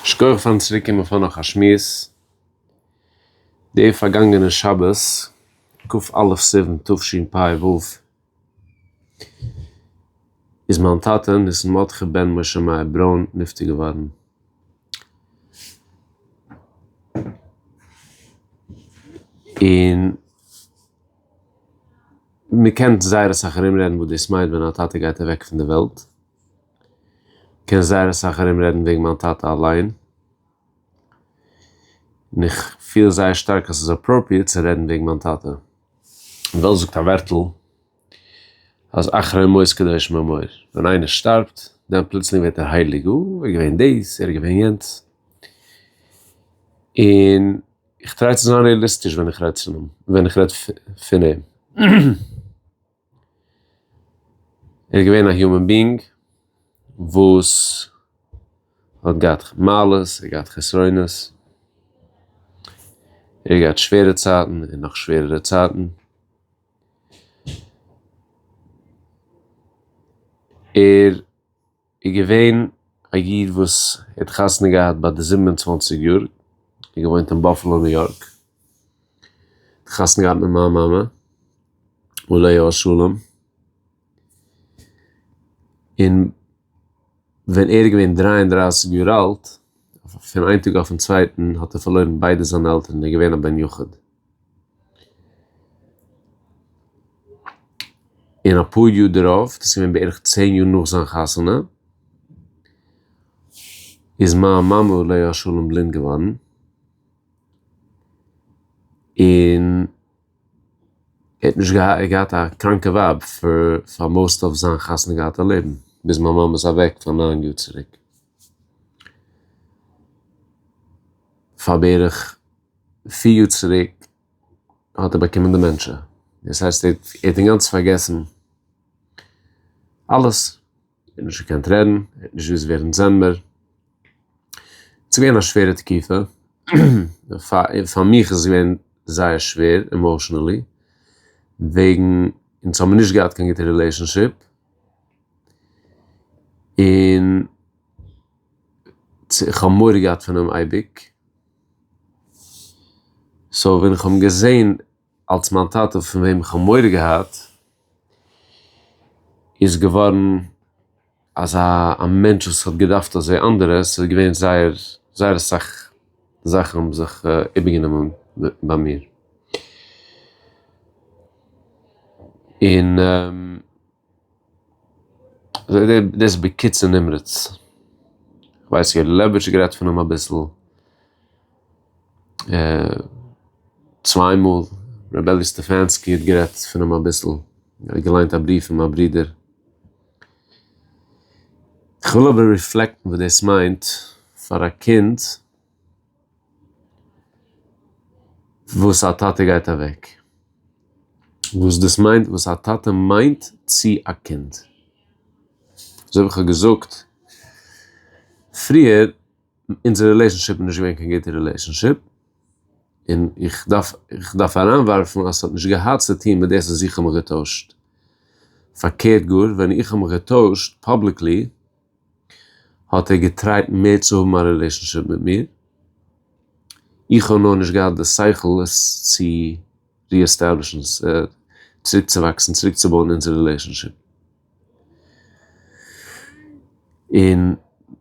שקויעך פארן צוריק קומען פאר נאך א שמועס. די פארגאנגענע שבת כ א סיון תשפ ו איז מיין טאטע ניסן מרדכי בן משה מאיר ברוין נפטר געווארן. און מ'קען זייער אסאך ארומרעדן וואס דאס מיינט ווען א טאטע גייט אוועק פון די וועלט. קען זייער אסאך ארום רעדן וועגן מיין טאטע אליין, און איך פיל זייער שטארק אז ס'איז אפראפריעט צו רעדן וועגן מיין טאטע. אין וועלט זאגט א ווערטל אז אחרי מות קדוש מאמור, ווען איינער שטארבט דאן פלוצלינג ווערט ער הייליג, אה, ער איז געווען דאס, ער איז געווען יענץ. און איך טריי צו זיין רעאליסטיש ווען איך רעד פון אים, ווען איך רעד פון אים. ער איז געווען א יומען בינג וואס האט געהאט מעלות ער האט געהאט חסרונות, ער האט געהאט שווערע צייטן און נאך שווערערע צייטן, ער איז געווען א איד וואס האט חתונה געהאט ביי די זיבן און צוואַנציק יאר, און געוואוינט אין באפעלא ניו יארק, האט חתונה געהאט מיט מיין מאמע עליה השלום, און ווען ער איז געווען דרײַ און דרײַסיק יאר אלט, פון איין טאג אויפן צווייטן האט ער פארלוירן ביידע זיינע עלטערן, ער איז געווען א בן יחיד. און אפאר יאר דערויף, דאס איז געווען בערך צען יאר נאך זיין חתונה, איז מיין מאמע עליה השלום בלינד געווארן, און ער האט נישט געהאט, ער האט געהאט א קראנקע ווייב פאר פאר מאוסט אוו זיין חתונה געהאטע לעבן, ביז מיין מאמע איז אוועק פאר ניין יאר צוריק. פאר בערך פיר יאר צוריק האט ער באקומען דעמענטשע, דאס הייסט ער האט אינגאנצן פארגעסן אלעס, ער האט נישט געקענט רעדן, ער האט נישט געוואוסט ווער אונז זעמיר, ס'איז געווען א שווערע תקופה, פאר מיך איז עס געווען זייער שווער עמאושענעלי, וועגן אונז האבן נישט געהאט קיין גוטע רילעישאנשיפ, און צו איך האב מורא געהאט פון אים אייביג, סאו ווען איך האב אים געזען אלס מיין טאטע פון וועם איך האב מורא געהאט, איז געווארן אזא א מענטש וואס האט געדארפט אזוי אנדערע, ס'איז געווען זייער זייער אסאך זאכן האבן זיך איבערגענומען ביי מיר. און. אזוי דער דאס בקיצור נמרץ. כ'ווייס איך האב לעבערשט גערעדט פון אים אביסל צוויי מאל, ר' אלי' סטעפאנסקי האט גערעדט פון אים אביסל, ער האט געליינט א בריוו פון מיין ברודער. כ'וויל אבער ריפלעקטן וואס דאס מיינט פאר א קינד וואס א טאטע גייט אוועק. וואס דאס מיינט וואס א טאטע מיינט צו א קינד. אזוי ווי איך האב געזאגט פריער, אונזער רילעישאנשיפ איז נישט געווען קיין גוטע רילעישאנשיפ, און איך דארף איך דארף אריינווארפן אז ס'האט נישט געהאט צו טון מיט דאס אז איך האב מיך געטוישט. פארקערט גאר, ווען איך האב מיך געטוישט פאבליקלי, האט ער געטרייט מער צו האבן א רילעישאנשיפ מיט מיר, איך האב נאר נישט געהאט די שכל עס צו ריעסטעבלישן, צוריקצואוואקסן, צוריקצובויען אונזער רילעישאנשיפ. און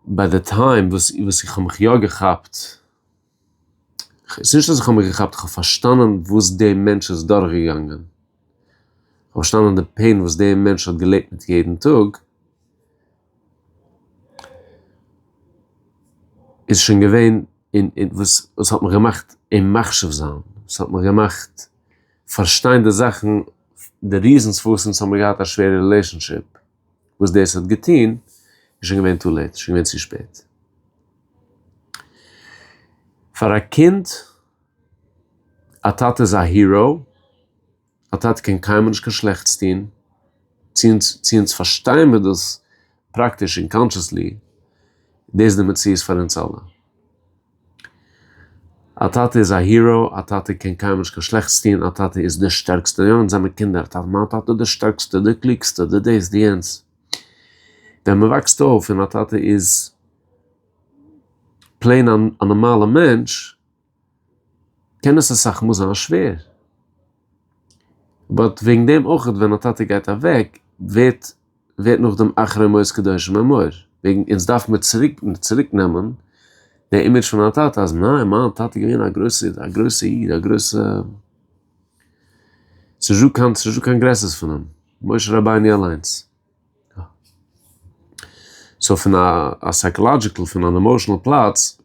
ביי די טיים וואס איך האב מיך יא געכאפט, ס'איז נישט אז איך האב מיך געכאפט, איך האב פארשטאנען וואס די מענטש איז דורכגעגאנגען, איך האב פארשטאנען די פעין וואס די מענטש האט געלעבט מיט יעדן טאג, איז שוין געווען אין אין וואס וואס האט מיך געמאכט אים מחשיב זיין, וואס האט מיך געמאכט פארשטיין די זאכן, די ריזענס פארוואס אונז האבן געהאט א שווערע רילעישאנשיפ. וואס דאס האט געטון איז שוין געווען טו לעיט, שוין געווען צו שפעט. פאר א קינד, א טאטע איז א היראו, א טאטע קען קיינמאל נישט קיין שלעכטס טון, צו אונז צו אונז פארשטיין מיר דאס פראקטיש און קאנשעסלי, דאס איז די מציאות פאר אונז אלע. א טאטע איז א הירא, א טאטע קען קיינמאל נישט קיין שלעכטס טון, א טאטע איז דער שטערקסטע, יא אונז זעמער קינדער, טאטע מיין טאטע איז דער שטערקסטע, דער קלוגסטע, דער דאס, דער יענץ, ווען מען וואקסט אויף און א טאטע איז פלעין א נארמאלע מענטש, קען עס אסאך מאל זיין שווער, באט וועגן דעם אויכעט ווען א טאטע גייט אוועק ווערט. ווערט נאכדעם אחרי מות קדושים אמור, וועגן אונז דארף מען צוריק צוריק נעמען די אימעדזש פון מיין טאטע אז ניין מיין טאטע איז געווען א גרויסע א גרויסע איד א גרויסע ס'איז נישטא קיין ס'איז נישטא קיין גרעסערס פון אים משה רבינו אליינס. סאו פון א א סייקאלאדזשיקל פון אן עמאושענעל פלאץ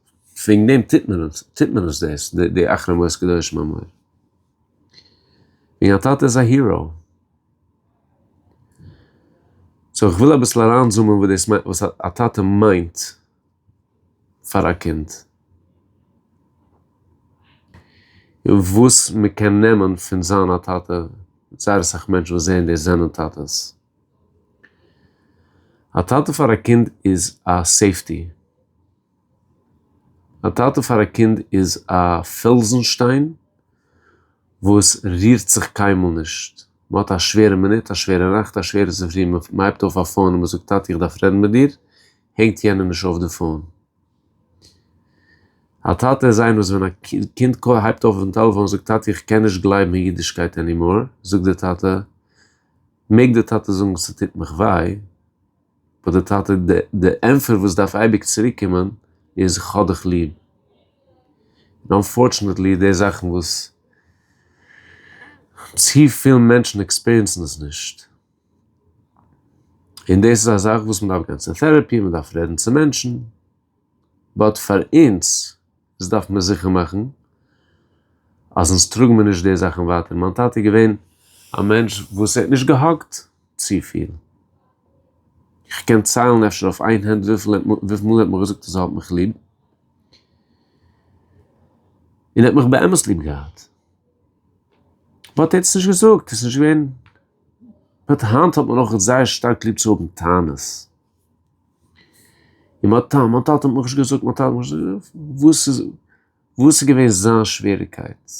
וועגן דעם טוט מען עס טוט מען עס דאס די אחרי מות קדושים אמור. וועגן א טאטע איז א היראו. סאו איך וויל אביסל אריינזומען וואס דאס מיינט וואס א טאטע מיינט פאר א קינד, און וואס מען קען נעמען פון זיין א טאטע, זייער אסאך מענטשן וואס זעען דאס זענען טאטעס. א טאטע פאר א קינד איז א סעיפטי. א טאטע פאר א קינד איז א פעלזן שטיין וואס רירט זיך קיינמאל נישט. מען האט א שווערע מינוט, א שווערע נאכט, א שווערע צופרי, מען הייבט אויף א פאון און מען זאגט טאטע איך דארף רעדן מיט דיר, הענגט יענער נישט אויף די פאון. א טאטע איז איינער וואס ווען א קינד הייבט אויף אויפן טעלעפאון און זאגט טאטע איך קען נישט גלייבן אין אידישקייט ענימאר, זאגט די טאטע, מעג די טאטע זאגן ס'טוט מיך וויי, האט די טאטע די ענפער וואס דארף אייביג צוריק קומען איז כ'האב דיך ליב. און אנפארטשענעטלי די זאכן וואס צופיל מענטשן עקספיריענסן עס נישט. און דאס איז א זאך וואס מ'דארף גיין צו טערעפי, מ'דארף רעדן צו מענטשן. באט פאר אונז. דאס דארף מען זיכער מאכן אז אונז טראגן מיר נישט די זאכן ווייטער, מיין טאטע איז געווען א מענטש וואס ער האט נישט געהאגט צופיל, איך קען ציילן אפשר אויף איין הענט וויפיל וויפיל מאל ער האט מיר געזאגט אז ער האט מיך ליב, און ער האט מיך באמת ליב געהאט, באט ער האט עס נישט געזאגט, עס איז נישט געווען, באט היינט האט מען אויך זייער שטארק ליב צו האבן טענות. און מיין טאטע, מיין טאטע האט מיך נישט געזאגט, מיין טאטע האט מיך נישט געזאגט, וואס איז, וואס איז געווען זיין שוועריקייט?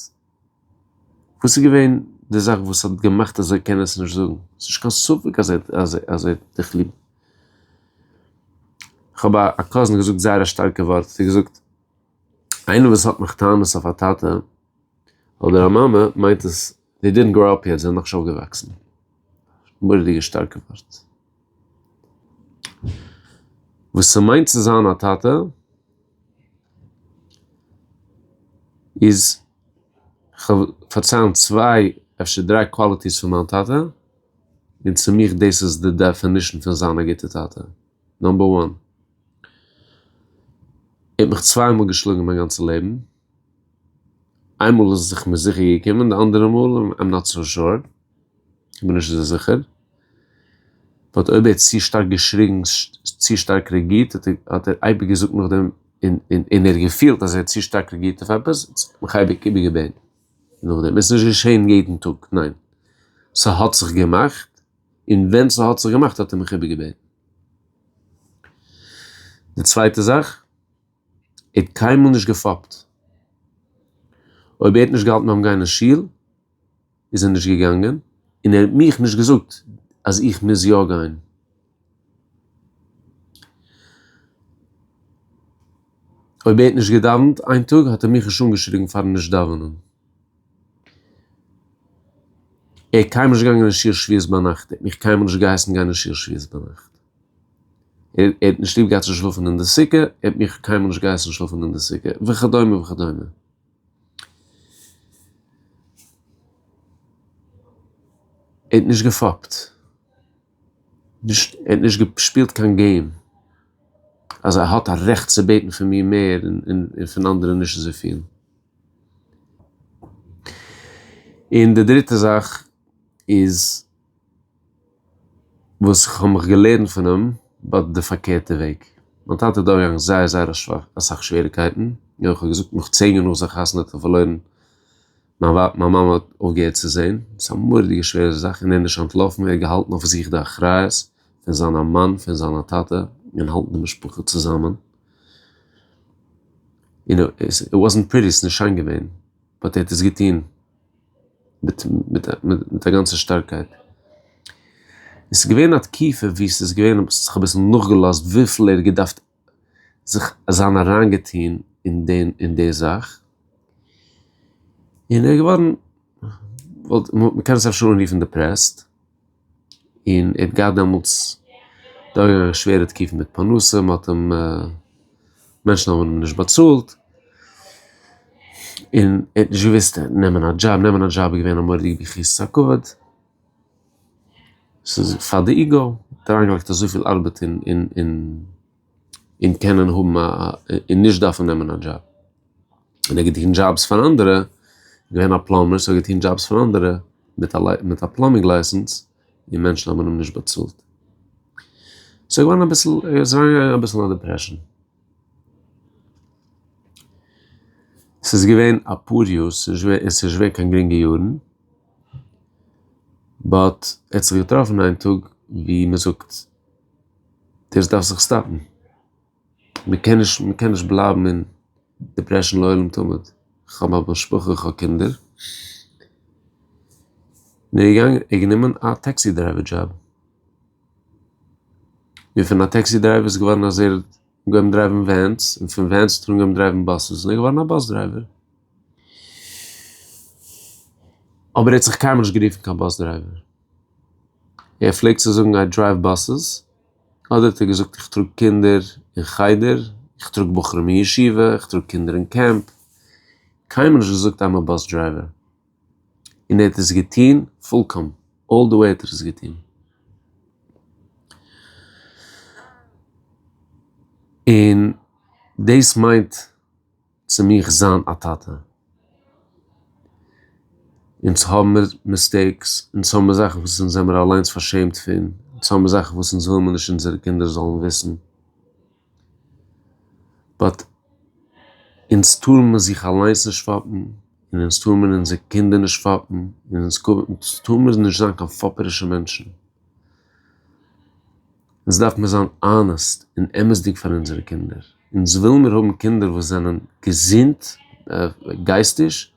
וואס איז געווען די זאך וואס האט געמאכט אז ער קען עס נישט זאגן? ס'איז נישט קיין ספק אז ער האט דיך ליב. כ'האב א קאזין געזאגט זייער א שטארקע ווארט, האט ער געזאגט, איינער וואס האט נאך טענות אויף א טאטע אדער א מאמע, מיינט עס, דעי דידנט גראו אפ יעט, זיי זענען נאכנישט אויפגעוואקסן. מורא'דיגע שטארקע ווארט. וואס ס'מיינט צו זיין א טאטע איז, כ'וועל פארציילן צוויי אפשר דריי קוואליטיס פון מיין טאטע, און צו מיך דאס איז די דעפינישן פון זיין א גוטע טאטע. נאמבער וואן. ער האט מיך צוויי מאל געשלאגן מיין גאנצע לעבן. איינמאל איז עס זיך מיר זיכער געקומען, די אנדערע מאל איים נאט סאו שור, כ'בין נישט אזוי זיכער. באט אויב ער האט צו שטארק געשריגן, צו שטארק רעגירט, האט ער אייביג געזאגט נאכדעם, און ער האט געפילט אז ער האט צו שטארק רעגירט אויף עפעס, האט זיך מיך אייביג איבערגעבען נאכדעם. עס איז נישט געשען יעדן טאג, ניין. ס'האט זיך געמאכט, און ווען ס'האט זיך געמאכט האט ער מיך איבערגעבען. די צווייטע זאך. ער האט קיינמאל נישט געפאפט, אויב ער האט נישט געהאלטן ביים גיין אין שול איז ער נישט געגאנגען, און ער האט מיך נישט געזאגט אז איך מוז יא גיין. אויב ער האט נישט געדאווענט איין טאג האט ער מיך נישט אנגעשריגן פארן נישט דאווענען. ער איז קיינמאל נישט געגאנגען אין שיעור שביעית ביינאכט, ער האט מיך קיינמאל נישט געהייסן גיין אין שיעור שביעית ביינאכט. ער האט נישט ליב געהאט צו שלאפן אין די סוכה, ער האט מיך קיינמאל נישט געהייסן שלאפן אין די סוכה, וכדומה וכדומה. ער האט נישט געפאפט, נישט, ער האט נישט געשפילט קיין געים, אז ער האט א רעכט צו בעטן פון מיר מער און פון אנדערע נישט אזויפיל. און די דריטע זאך איז. וואס איך האב מיך געלערנט פון אים ביי די פארקערטע וועג. מיין טאטע איז דורכגעגאנגען זייער זייער אסאך שוועריקייטן, און ווי איך האב געזאגט נאך צען יאר נאך זיין חתונה האט ער פארלוירן מיין ווייב, מיין מאמע האט אויפגעהערט צו זען, ס'איז א מורא'דיגע שווערע זאך, און ער איז נישט אנטלאפן, ער האט געהאלטן אויף זיך די אחריות פון זיין א מאן, פון זיין א טאטע, און האלטן די משפחה צוזאמען, און איט וואזענט פריטי, ס'איז נישט שיין געווען, באט ער האט עס געטון, מיט א גאנצע שטארקייט. עס איז געווען א תקופה ווי עס איז געווען אז איך האב אביסל נאכגעלאזט וויפיל ער האט געדארפט זיך זיין אריינגעטון אין דעם אין די זאך. און ער איז געווארן, מ'קען עס אפשר אנרופן דעפרעסט. און ער האט געהאט דעמאלטס דורך א שווערע תקופה מיט פרנסה, מ'האט אים, מענטשן האבן אים נישט באצאלט, און ער האט נישט געוואוסט נעמען א דזשאב, נעמען א דזשאב איז געווען א מורא'דיגע ביכורת הכבוד, ס'איז פאר די איגו, מ'האט אריינגעלייגט אזויפיל ארבעט אין. און קענען האבן א און נישט דארפן נעמען א דזשאב, און ער האט געטון דזשאבס פאר אנדערע, געווען א פלאמבער סאו ער האט געטון דזשאבס פאר אנדערע מיט א מיט א פלאמינג לייסענס, און מענטשן האבן אים נישט באצאלט, סאו ער געווארן אביסל ער איז אריין געגאנגען אביסל אין א דיפרעשאן. ס'איז געווען אפאר יאר ס'איז נישט געווען ס'איז נישט געווען קיין גרינגע יארן, באט ער האט זיך געטראפן איין טאג ווי מ'זאגט, דאס דארף זיך סטאפן, מען קען נישט מען קען נישט בלייבן אין דיפרעשאן לעולם תמיד, כ'האב א משפחה איך האב קינדער, און ער איז געגאנגען ער האט גענומען א טעקסי דרייווער דזשאב, און פון א טעקסי דרייווער איז געווארן אז ער האט אנגעהויבן דרייוון ווענס, און פון ווענס האט ער אנגעהויבן דרייוון באסעס און ער איז געווארן א באס דרייווער, אבער ער האט זיך קיינמאל נישט גערופן קיין באס דרייווער. ער פלעגט צו זאגן איי דרייוו באסעס, אדער האט ער געזאגט איך טראג קינדער אין חדר, איך טראג בחורים אין ישיבה, איך טראג קינדער אין קעמפ, קיינמאל נישט געזאגט איי'ם א באס דרייווער. און ער האט עס געטון פולקאם, אלל די וועי האט ער עס געטון. און דאס מיינט. צו מיך זיין א טאטע. אונז האבן מיר מיסטעיקס, אונז האבן מיר זאכן וואס אונז זעמיר אליינס פארשעמט פון, אונז האבן מיר זאכן וואס אונז וויל מיר נישט אונזערע קינדער זאלן וויסן, באט אונז טאר מיר זיך אליינס נישט פאפן, און אונז טאר מיר אונזערע קינדער נישט פאפן, און אונז טאר מיר נישט זיין קיין פאפערישע מענטשן. אונז דארף מיר זיין אנעסט און אמת'דיג פאר אונזערע קינדער, אונז וויל מיר האבן קינדער וואס זענען געזונט גייסטיש,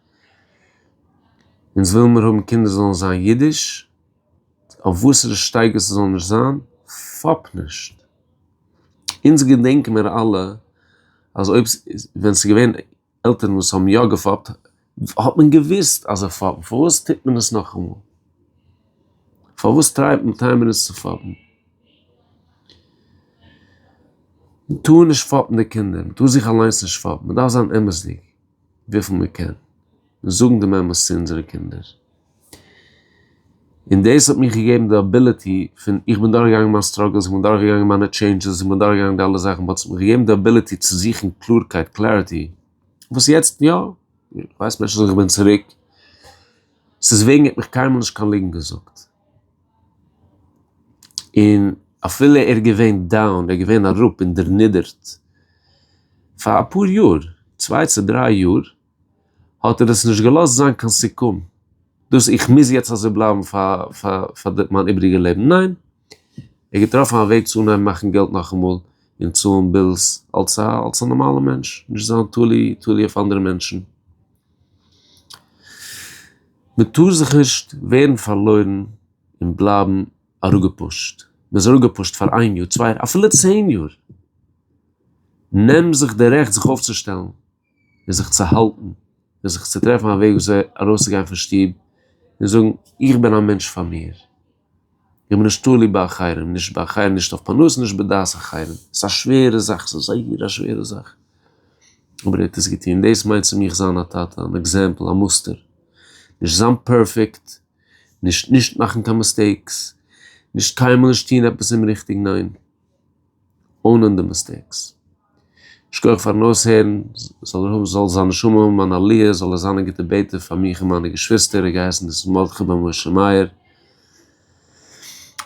אונז וויל מיר האבן קינדער זאלן זיין אידיש, אויף וואסערע שטייגער ס'זאל נישט זיין, פאפ נישט. אונז געדענק מיר אלע אז אויב, ווען ס'איז געווען, עלטערן וואס האבן יא געפאפט, האט מען געוואוסט אז זיי פאפן, פארוואס טוט מען עס נאכאמאל? פארוואס טרייבט מען טיימער עס צו פאפן? מען טאר נישט פאפן די קינדער, מען טאר זיך אליינס נישט פאפן, מען דארף זיין אמת'דיג וויפיל מען קען, און זאגן דעם אמת צו אונזערע קינדער. און דאס האט מיך געגעבן די אביליטי פון איך בין דורכגעגאנגען מיין סטראגעלס איך בין דורכגעגאנגען מיינע טשעינדשעס איך בין דורכגעגאנגען די אלע זאכן וואס האט מיך געגעבן די אביליטי צו זוכן קלארקייט קלעריטי וואס יעצט יא ווייסט מען שוין איך בין צוריק ס'איז וועגן ער האט מיך קיינמאל נישט קיין ליגנט געזאגט און אפילו ער איז געווען דאון ער איז געווען אראפ און דערנידערט פאר אפאר יאר צוויי צו דריי יאר האט ער עס נישט געלאזט זיין קיין סיכום, דאס איך מוז יעצט אזוי בלייבן פאר מיין איבריגע לעבן, ניין, ער האט געטראפן א וועג צו אנהייבן מאכן געלט נאכאמאל און צאלן בילס אלס א אלס א נארמאלע מענטש, נישט זיין תלוי תלוי אויף אנדערע מענטשן. מען טאר זיך נישט ווערן פארלוירן און בלייבן אראפגעפושט, מען איז אראפגעפושט פאר איין יאר, צוויי יאר, אפילו צען יאר, נעם זיך די רעכט זיך אויפצושטעלן. ווי זיך צו האלטן, ווי זיך צו טרעפן א וועג וויאזוי ארויסצוגיין פון שטוב און זאגן, איך בין א מענטש פאר מיר, איך בין נישט תלוי באחרים, נישט באחרים, נישט אויף פרנסה, נישט בדעת אחרים. ס'איז א שווערע זאך, ס'איז זייער א שווערע זאך, אבער ער האט עס געטון. דאס מיינט צו מיך זיין א טאטע, אן עקזעמפל, א מוסטער. נישט זיין פערפעקט, נישט נישט מאכן קיין מיסטעיקס, נישט קיינמאל נישט טון עפעס אומריכטיג, ניין. אוינען די מיסטעיקס. שכוח פארן אויסהערן, זאל ער האבן זאל זיין נשמה האבן אן עליה, זאל ער זיין א גוטע בעטער פאר מיך און מיינע געשוויסטער, ער האט געהייסן ניסן מרדכי בן משה מאיר,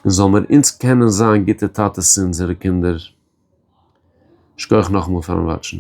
און זאל מיר אונז קענען זיין גוטע טאטעס צו אונזערע קינדער, שכוח נאכאמאל פארן וואטשן.